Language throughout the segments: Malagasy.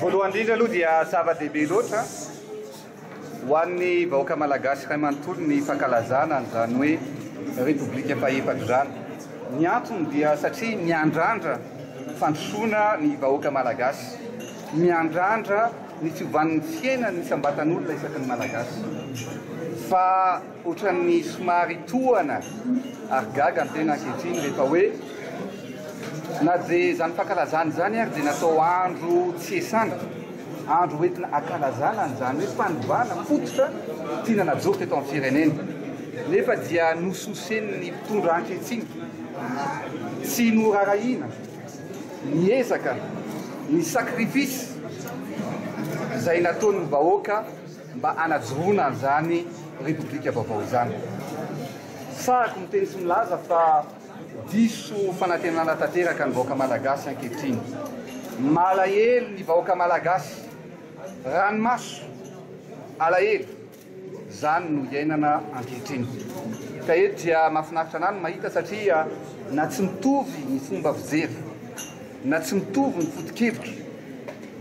Voalohany indrindra aloha dia zava-dehibe loatra ho an'ny vahoaka malagasy iray manontolo ny fankalazana an'izany hoe Repoblika fahefatra izany. Ny antony dia satria miandrandra fandrosoana ny vahoaka malagasy. Miandrandra Ny fiovan'ny fiainan'ny isam-batan'olona isaky ny Malagasy. Fa ohatran'ny somary tohana ary gaga ny tena ankehitriny rehefa hoe na dia izany fankalazana izany ary dia natao andro tsy iasana, andro hoentina ankalazana an'izany hoe fanovana fototra tiana najoro teto amin'ny firenena, nefa dia nososen'ny mpitondra ankehitriny, tsy noraharahiana. ny ezaka, ny sacrifice izay nataon'ny vahoaka mba hanajoroana an'izany Repoblika vaovao izany. Sahiko miteny sy milaza fa diso fanantenana tanteraka ny vahoaka Malagasy ankehitriny. Malahelo ny vahoaka Malagasy. Ranomaso. Alahelo. Izany no iainana ankehitriny. Ka eto dia mahafinaritra an'ahy ny mahita satria na tsy mitovy ny fomba fijery, na tsy mitovy ny foto-kevitra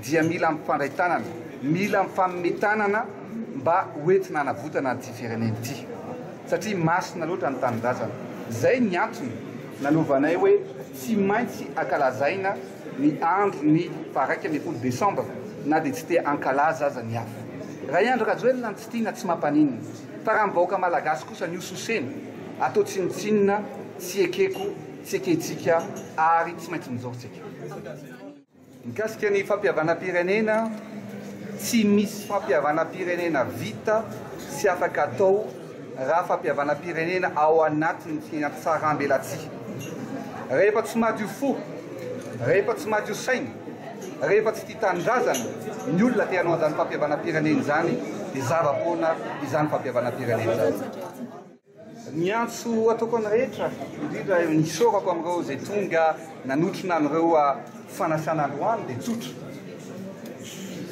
dia mila mifandray tanana, mila mifanome tanana mba ho entina hanavotana an'ity firenena ity. Satria masina loatra ny tanindrazana. Izay ny antony nanaovanay hoe tsy maintsy ankalazaina. ny andro ny faha raika ambin'ny folo desambra na dia tsy te hankalaza aza ny hafa. Raha i Andry Rajoelina no tsy tiana tsy mampaninona fa raha ny vahoaka malagasy kosa ny hososena atao tsinontsinona tsy ekeko tsy ekentsika ary tsy maintsy mijoro tsika. Mikasika ny fampihavanam-pirenena, tsy misy fampihavanam-pirenena vita sy afaka atao. raha fampihavanam-pirenena ao anatin'ny fiainam-pisaraham-belatsihy. Rehefa tsy madio fo, rehefa tsy madio saina, rehefa tsy tia tanindrazana ny olona te hanao an'izany fampihavanam-pirenena izany dia zava poana izany fampihavanam-pirenena izany. Ny antso ataoko an'ny rehetra, indrindra ny isaorako amin'ireo izay tonga nanotrona an'ireo fanasana androany dia tsotra,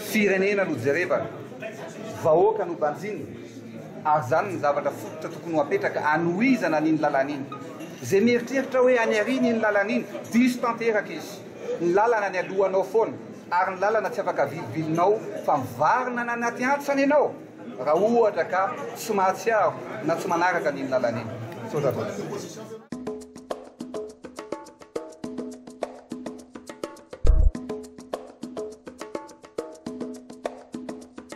firenena no jerevana, vahoaka no banjinina. ary izany no zavatra fototra tokony ho apetraka hanohizana an'iny lalana iny. Izay mieritreritra hoe any aoriana iny lalana iny, diso tanteraka izy. Ny lalana any alohanao foana, ary ny lalana tsy afaka avilibilinao fa mivarina any anaty antsana ianao raha ohatra ka tsy mahatsiaro na tsy manaraka an'iny lalana iny. Misaotra tompoko.